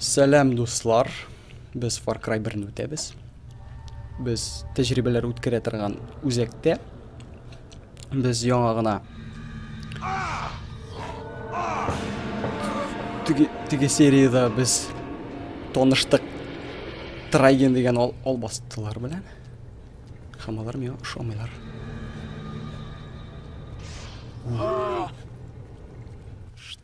Сәлам дуслар. Без Far Cry 1-не үтәбез. Без тәҗрибәләр үткәрә торган үзәктә без яңа гына теге серияда без таныштык Трайген дигән ал, албастылар белән. Һәм алар миңа ошамыйлар.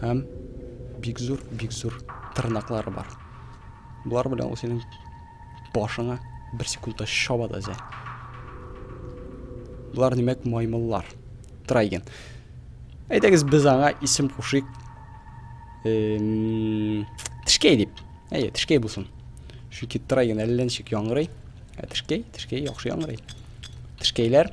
Һәм бик зур, бик зур тырнаклары бар. Болар белән ул синең башыңа бер секундта чаба да зә. Болар димәк маймыллар. Трайген. Әйдәгез без аңа исем кушыйк. Эм... Тешкәй дип. Әйе, тешкәй булсын. Чөнки трайген әллә ничек яңгырый. Ә тешкәй, тешкәй яхшы яңгырый. Тешкәйләр.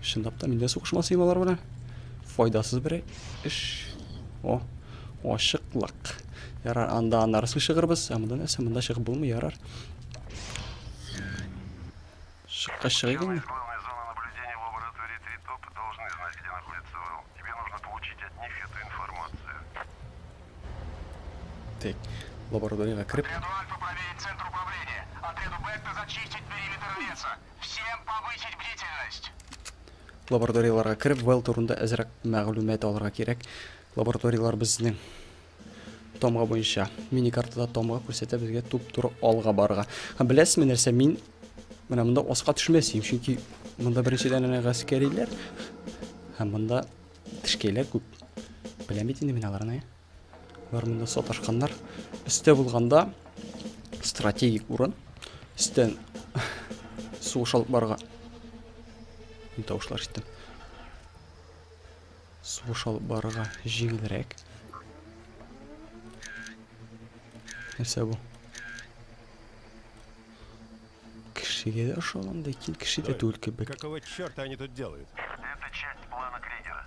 Чынлап та мин дә сугышмасыйм алар белән. Файдасыз бер эш. О, ашыклык. Ярар, анда аннары чыгырбыз. Ә монда нәрсә? Монда чыгып булмый, ярар. Шыкка чыгыйк инде. Так, лабораториягә кереп. Лабораторияларга кереп, Вэлл турында әзрәк мәгълүмат алырга кирәк. Лабораториялар безнең тамга буенча мини картада тамга күрсәтә безгә туп-туры алга барырга. Һәм беләсезме нәрсә, мин менә монда аска төшмәс идем, чөнки монда беренчедән генә гаскәриләр һәм монда тешкәйләр күп. Беләм бит инде мин аларны. Бар монда саташканнар. Өстә булганда стратегик урын. Өстән сугыш алып барга. Мин тавышлар ишеттем. Сугыш алып барырга җиңелрәк. Нәрсә бу? Кешегә дә ошагандай, кин кеше дә түгел кебек. Какого черта они тут делают? Это часть плана Кригера.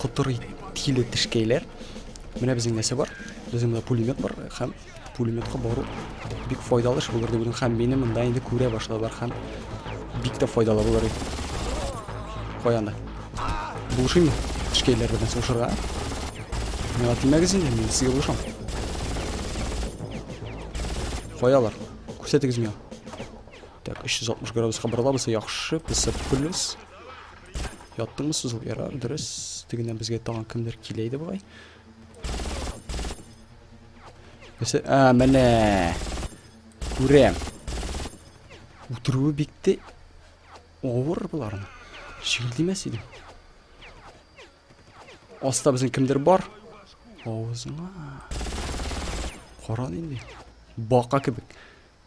Котырый тиле тешкәйләр. Менә безнең нәрсә бар. Безнең монда пулемет бар һәм пулеметка бару бик файдалы эш булыр дип һәм мине монда инде күрә башладылар һәм бик тә файдалы булыр иде. Кая анда? Булышыймы? Тешкәйләр белән сугышырга. Миңа тимәгез инде, мин сезгә булышам. Каялар? Күрсәтегез миңа. Так, 360 градуска борылабыз, яхшы, плюс. Яттыңмы сузыл? Ярар, дөрес. Тегеннән безгә тагын кемдер килә иде бугай. Нәрсә? А, менә. Күрәм. Утыруы бикте. Авыр боларны. Шилдимәс иде. Аста безнең кемдер бар. Авызыңа. Каран инде. Бака кебек.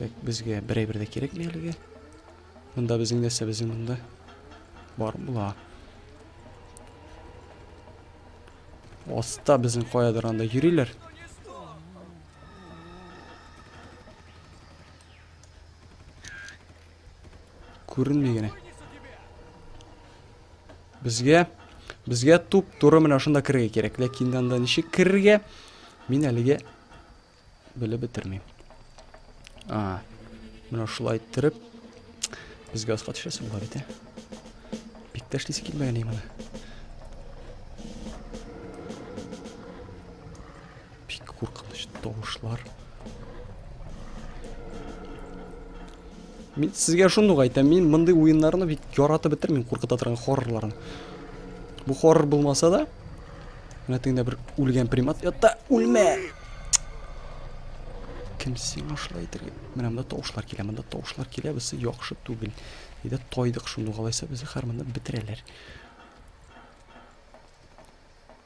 Так, безгә бер әйбер дә кирәкми әлегә. Монда безнең нәрсә безнең монда? Бар була. Аста безнең каядыр анда йөриләр. Күренми генә. Безгә безгә туп туры менә шунда керергә кирәк. Ләкин анда ничек керергә? Мин әлегә белеп бетермим. А. Менә шулай иттереп безгә аска төшәсе була бит, ә? Бик тә эшлисе килмәгән Бик куркыныч тавышлар. Мин сезгә шуны ук әйтәм, мин мондый уеннарны бик яратып бетермим, куркыта торган хоррорларны. Бу хоррор булмаса да, менә тегендә бер үлгән примат ятта, үлмә! Кем сиңа шулай әйтергә? Менә монда тавышлар килә, монда тавышлар килә, без яхшы түгел. Әйдә тайдык шуны, алайса безне хәр монда бетерәләр.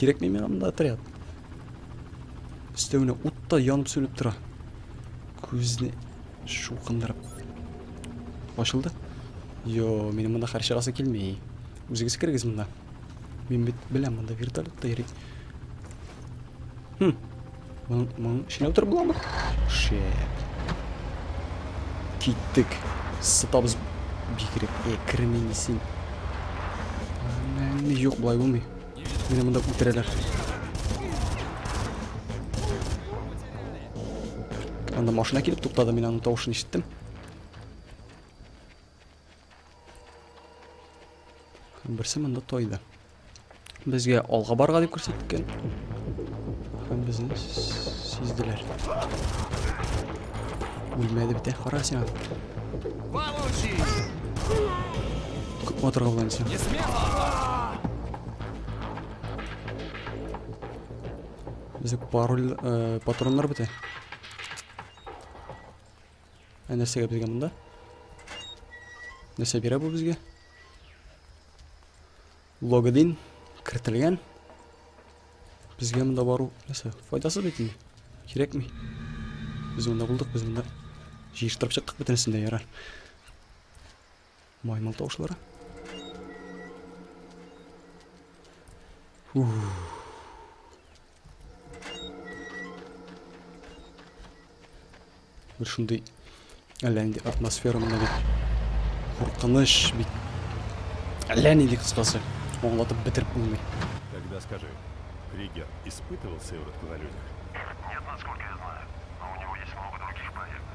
Кирәкми миңа монда отряд. Өстәвенә ут та янып сүнеп тора. Күзне шуқындырып. Ачылды? Йо, минем монда хәр чыгасы килми. Үзегез кергез монда. Мин бит беләм монда вертолетта йөри. Хм, Моның, моның эченә утырып буламы? Шет. Киттек. Сытабыз бигрәк. Э, керми син. Әнә, юк, болай булмый. Мине монда үтерәләр. Анда машина килеп туктады, мин аның тавышын ишеттем. Берсе монда тойды. Безгә алга барга дип күрсәткән. Һәм безне сизделәр. Үлмәде бит, кара син. Күп матырга булган син. Безгә пароль, э, патроннар бите. Ә нәрсәгә безгә монда? Нәрсә бирә бу безгә? Логин кертелгән. Безгә монда бару нәрсә? Файдасыз бит инде. Кирәкми. Без монда булдык, без монда җыештырып чыктык бөтенесен дә ярар. Маймыл тавышлары. Ух. Бер шундый әллә нинди атмосфера мына бит. Куркыныч бит. Әллә нинди кыскасы. Аңлатып бетереп булмый. Тогда скажи, Кригер испытывал сыворотку на людях?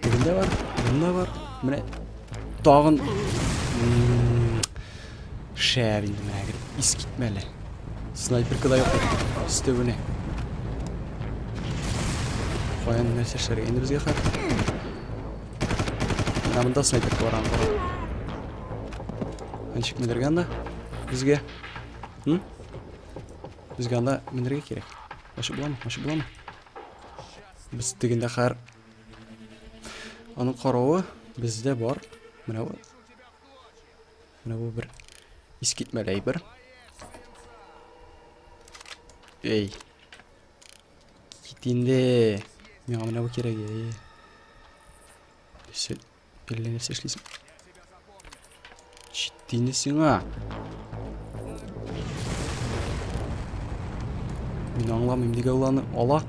Тегендә бар, янында бар. Менә тагын шәп инде менә гел ис китмәле. Снайперка да юк икән. Өстәвенә. Каян нәрсә эшләргә инде безгә хәзер? Менә монда снайперка бар анда. Ничек менергә анда? Безгә. Хм? Безгә анда менергә кирәк. Ачып буламы? Ачып буламы? Без дигәндә хәр Аның каравы бездә бар. Менә бу. Менә бу бер искитмәле әйбер. Эй. Кит инде. Миңа менә бу кирәк. Эй. Сел Әллә нәрсә эшлисең. Җитте сиңа. Мин аңламыйм, нигә ул аны ала?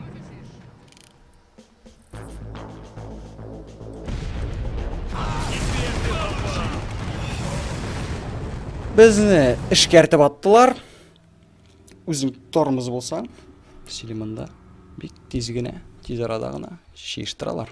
Безне эшкәртеп аттылар. Үзең тормыз булса, силе монда бик тиз генә, тиз арада гына чиештыралар.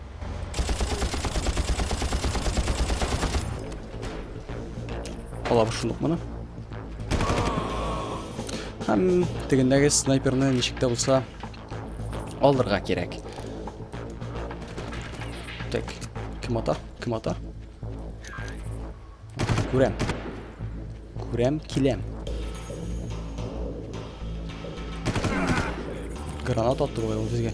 Алабыз шундук моны. Һәм тегендәге снайперны ничек тә булса алырга кирәк. Так, кем ата? Кем ата? Күрәм. Күрәм, киләм. Гранат атты бу безгә.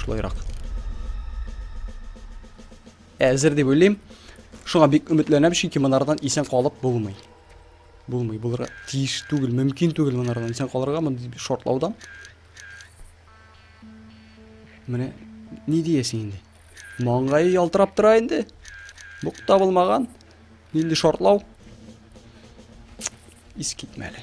Шулайрак. Әзер дип уйлыйм. Шуңа бик өметләнәм, чөнки монардан исән калып булмый. Булмый, булырга тиеш түгел, мөмкин түгел монардан исән калырга мондый шартлаудан. Менә ни диясең инде? Маңгае ялтырап тора инде. Бук табылмаган. Нинди шартлау? Ис китмәле.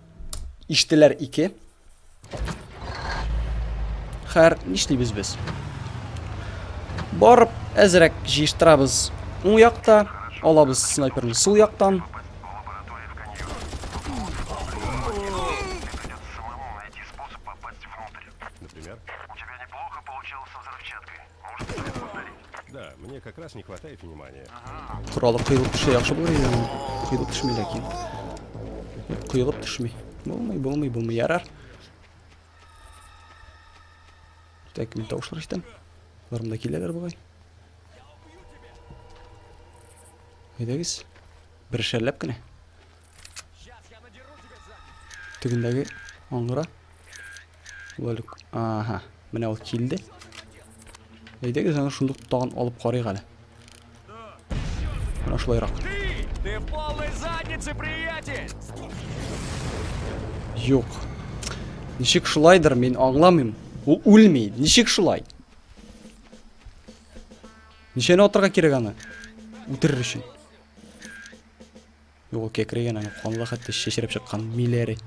Иштеләр ике. Хәр нишлибез без? Барып, әзрәк җыештырабыз. Уң якта алабыз снайперны. Сул яктан Да, мне как раз не хватает внимания. Куралып кыйлып төшә яхшы булыр иде. Кыйлып төшми ләкин. Кыйлып төшми. Булмый, булмый, булмый. Ярар. Так, мин тавышлар ишетәм. Барым да киләләр бугай. Әйдәгез. Бер шәлләп кенә. Тегендәге аңгыра. Валюк. Ага. Менә ул килде. Әйдәгез аны шундук тагын алып карыйк әле. Менә шулайрак. Ты в полной заднице, приятель! Юк. Ничек шулайдыр, мин аңламыйм. Ул үлми. Ничек шулай? Ничәне атырга кирәк аны? Үтерер өчен. Юк, ул кәкрәйгән, аны канлы хәтта шешереп чыккан миләре.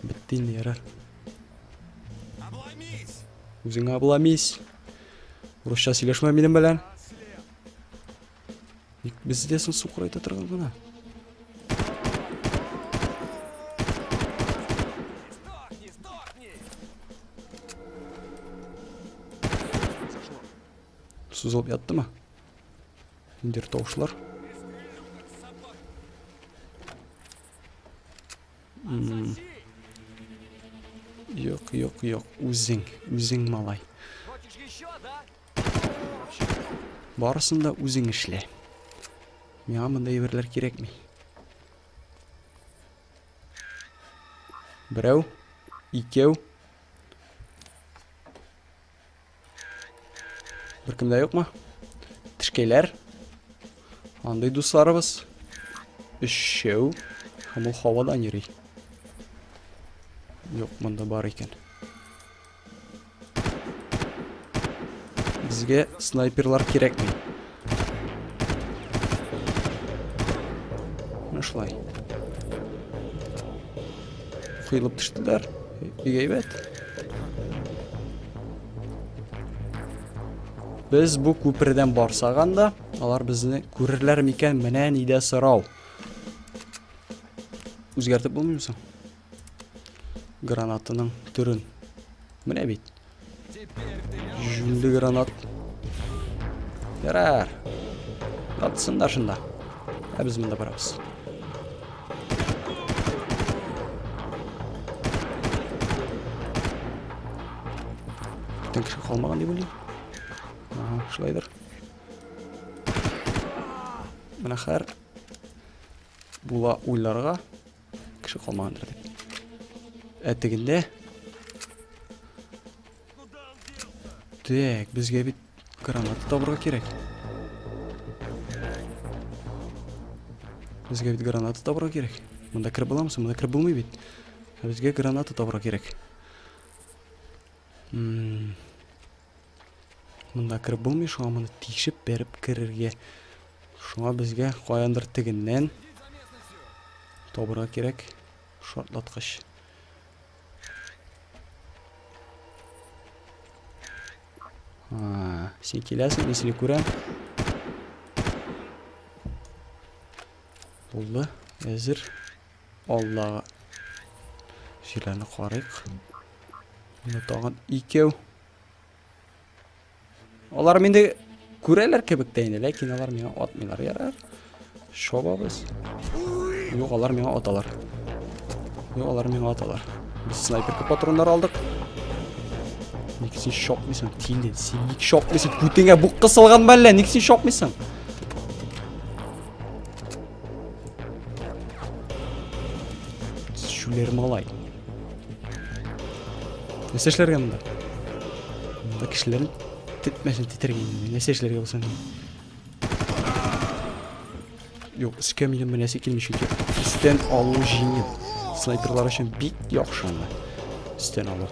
Бетте инде, ярар. Үзеңә обломись. Урысча сөйләшмә минем белән. Ник бездә соң су курайта торган гына? Сузылып яттымы? Ниндидер тавышлар. Юк, юк, юк. Үзең, үзең малай. Барысын да үзең эшлә. Миңа мондай әйберләр кирәкми. Берәү, икәү. Беркемдә юкмы? Тешкәйләр. Андый дусларыбыз. Өчәү. Һәм ул һавадан йөри. Юк, монда бар икән. Безгә снайперлар кирәкми. Менә шулай. Кыйлып төштеләр. Бик әйбәт. Без бу күпердән барсак анда, алар безне күрерләр микән? Менә нидә сорау. Үзгәртеп булмыймы соң? Гранатының төрен. Менә бит. Җүнле гранат. Ярар. Атсын да шында. Ә без монда барабыз. Тен кеше калмаган дип уйлыйм. Ага, шулайдыр. Менә хәр була уйларга Кеше калмагандыр дип. Ә тегендә Так, безгә бит граната табырга кирәк. Безгә бит граната табырга кирәк. Монда кереп буламы соң? Монда кереп булмый бит. Безгә граната табырга кирәк. Ммм. Монда кереп булмый, шуңа моны тишеп беріп керергә. Шуңа безгә каяндыр тегеннән табырга кирәк шартлаткыч. А, син киләсең, мин сине күрәм. Булды, әзер. Әзер. Аллага. Җирәне карыйк. Менә тагын икәү. Алар мине күрәләр кебек тә инде, ләкин алар миңа атмыйлар, ярар. Шобабыз. Юк, алар миңа аталар. Юк, алар миңа аталар. Без снайперка патроннар алдык. Ник син шокмыйсың, тиле? Син ник шокмыйсың? Күтеңә бук кысылганмы әллә? Ник син шокмыйсың? Шулер малай. Нәрсә эшләргә монда? Монда кешеләрен тетмәсен титергән. Нәрсә эшләргә булсын? Юк, өскә минем менәсе килми чөнки өстән алу җиңел. Снайперлар өчен бик яхшы анда. Өстән алу.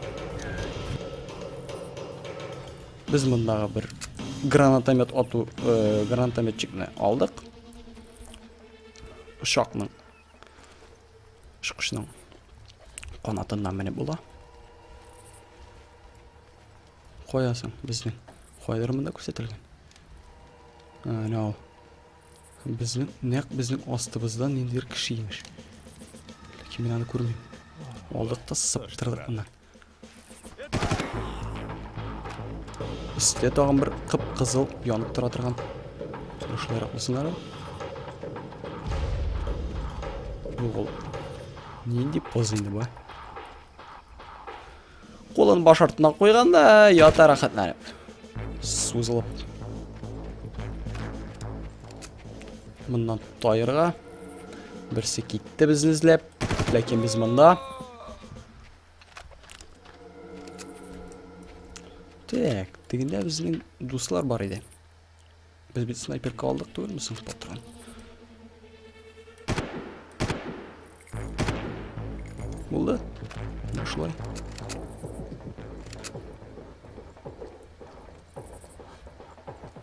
Без мондагы бер гранатомет ату, э, гранатометчикны алдык. Очакның очкычның канатыннан менеп була. Каясың безнең? Кайдыр монда күрсәтелгән. Әнә ул. Безнең нәкъ безнең астыбыздан ниндидер кеше имеш. Ләкин мин аны күрмим. Алдык та сыптырдык моннан. Истә тагын бер кып-кызыл янып тора торган. Шулайрак булсын әле. Юк ул. Нинди поз инде бу? Кулын баш артына куйганда ята рәхәтләнеп. Сузылып. Моннан тайырга. Берсе китте безне эзләп. Ләкин без монда. Так, тегендә безнең дуслар бар иде. Без бит снайперка алдык түгелме соң патрон? Булды. Ну шулай.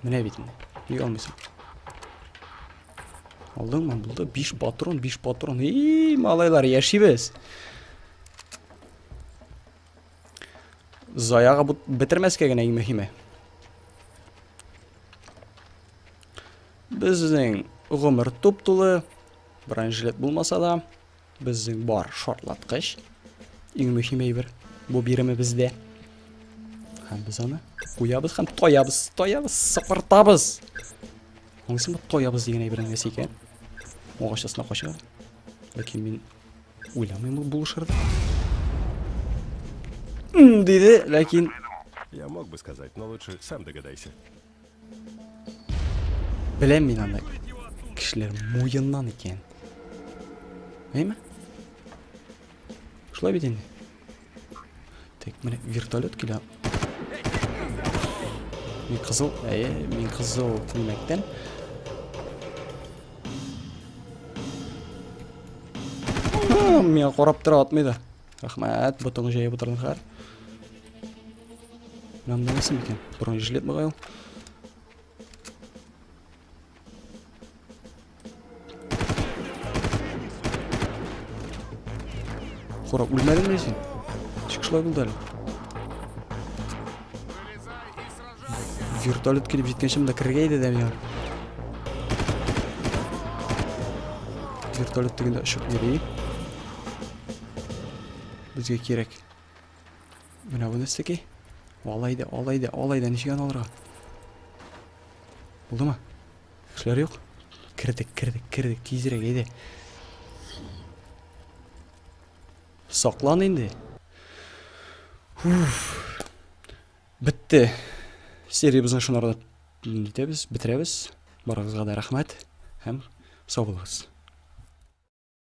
Менә бит инде. Ник алмыйсың? Алдыңмы? Булды. 5 патрон, 5 патрон. И, малайлар, яшибез. Заяга бетермәскә генә иң мөһиме. Безнең гомер туп-тулы. Бронежилет булмаса да. Безнең бар шартлаткыч. Иң мөһим әйбер бу биремебездә. Һәм без аны куябыз һәм тоябыз, тоябыз, сыпыртабыз. Аңсың бу тоябыз дигән әйбернең нәрсә икән? Агач астына кача. Ләкин мин уйламыйм ул булышырды. Диде, ләкин... Я мог бы сказать, но лучше сам догадайся. Беләм мин аны. Кешеләр муеннан икән. Әйме? Шулай бит инде. Так, менә вертолет килә. Мин кызыл, әйе, мин кызыл тимәктән. Миңа карап тора атмыйда. Рәхмәт, ботыңы җәеп утырдыңызлар. Нам не носим икән. Бронежилет бугай ул. Хура, үлмәдеңме син? Ничек шулай булды әле? Вертолет килеп җиткәнче монда керергә иде дә миңа. Вертолет тегендә очып йөри. Безгә кирәк. Менә бу нәрсәкәй. Алай да, алай да, алай да ничек аны алырга? Булдымы? Кешеләр юк. Кердек, кердек, кердек. Тизрәк әйдә. Саклан инде. Уф. Бетте. Сериябезне шунарда нитәбез, бетерәбез. Барыгызга да рәхмәт һәм сау булыгыз.